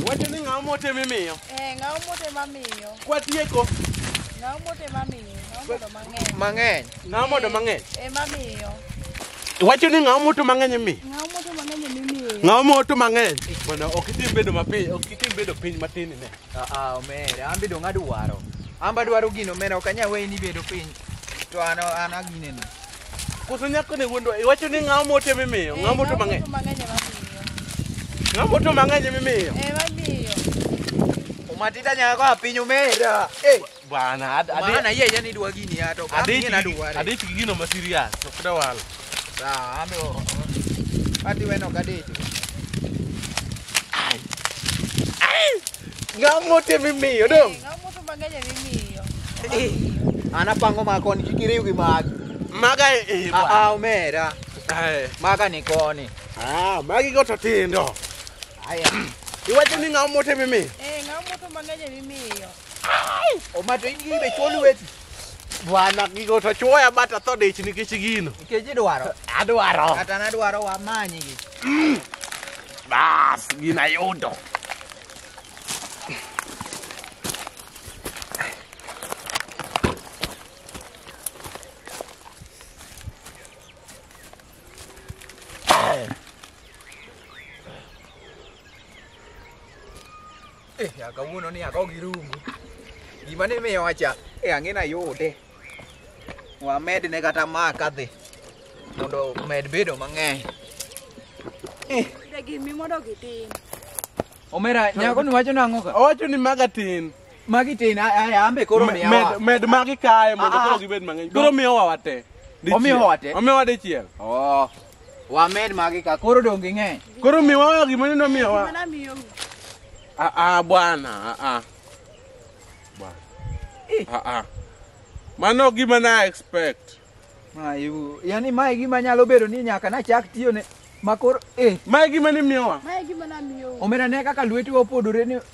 Wacho ni ng'awo mote mimiyo. Eh, ng'awo mote mamiyo. Kwatieko. Ng'awo mote mamiyo. Ng'awo modo mang'eny. Mang'eny. Ng'awo modo mang'eny. Eh, mamiyo. Wacho ni ng'awo moto mang'eny mi. Ng'awo moto mang'eny mimiyo. Ng'awo moto mang'eny. Bwana ok itim bedo mapiyo, ok itim bedo piny matin ne. Ah ah, omera, an bedo ng'adwaro. An badwaro gino omera, ok anyal weyi ni bedo piny. To an an agineni. Koso nyako ne wuondo iwacho ni ng'awo mote mimiyo, ng'awo moto mang'eny. Ng'awo moto mang'eny mimiyo. Eh, mamiyo. Umatita nyaka kwa piny omera. Eh, Bwana, ad- adi- maana yeye yani dwa gini ya to. adi Mimi na dware. adi gino ma serious, ok dawal. Sawa, ame o. Ati weno kadecho. Ng'amote mimiyo dong. Ng'amoto mang'eny mimiyo. An apango ma koni kik iriw gi magi. Maga e Ah, ah, omera. Maga ni koni. Ah, magi go to tindo. Aya. Iwacho ni ng'amote mimiyo. Eh, ng'amoto mang'eny mimiyo. Omato in gi be chuo lweti. Bwana gigo to chuoya bata tho dich nikech gino. Nikech idwaro. Adwaro. Kata nadwaro wamanyi gi. Mm. Bas, gina yudo. Eh, ya kawuono ni ako gi rungu. Gima ne miyo wacha, eh ang'e na yude. Wamed ne kata ma kadhi. Mondo med bedo mang'eny. Eh, De gimi mondo gitim. omera nyako ni wacho nang'o ka? Owacho ni maga tin. Magi tin aya ambe koro miya. Med wa. med magi kae mondo Ah, ah. koro gibed mang'eny. Koro miyowa wate. Dichiel. Omiyowa wate? Omiyowa dichiel. Oh. Wamed magi ka koro donge ng'eny. Koro miwa gima neno miwa. Mana miyo. Ah ah bwana, ah ah. Bwana. Ah ah. Mano gima na expect. Mayu, yani mae gima nyalo bedo ni nyaka nachak tiyo ne makoro eh. Mae gima ni miyowa. Mae gima na miyo. Omera ne kaka lweti opodore ni